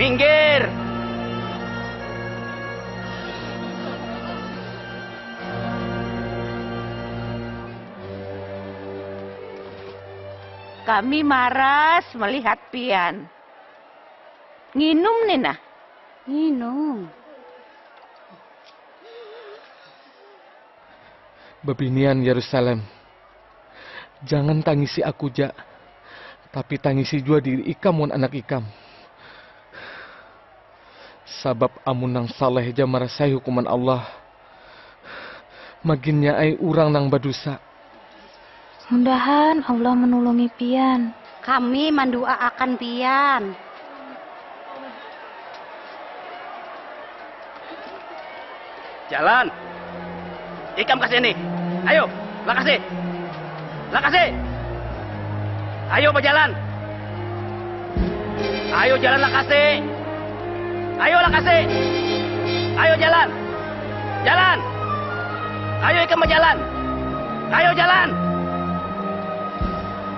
Minggir! Kami maras melihat pian. Nginum nih nah. Nginum. Bebinian Yerusalem. Jangan tangisi aku ja, tapi tangisi jua diri ikam wan anak ikam. Sabab amun nang saleh ja marasai hukuman Allah, maginnya ai urang nang badusa. Mudahan Allah manulungi pian. Kami mandu'aakan pian. Jalan. Ikam ka sini. Ayo, lakasi. Lakasi. Ayo bajalan. Ayo jalan lakasi. Ayo lakasi. Ayo jalan. Jalan. Ayo ikam bajalan. Ayo jalan.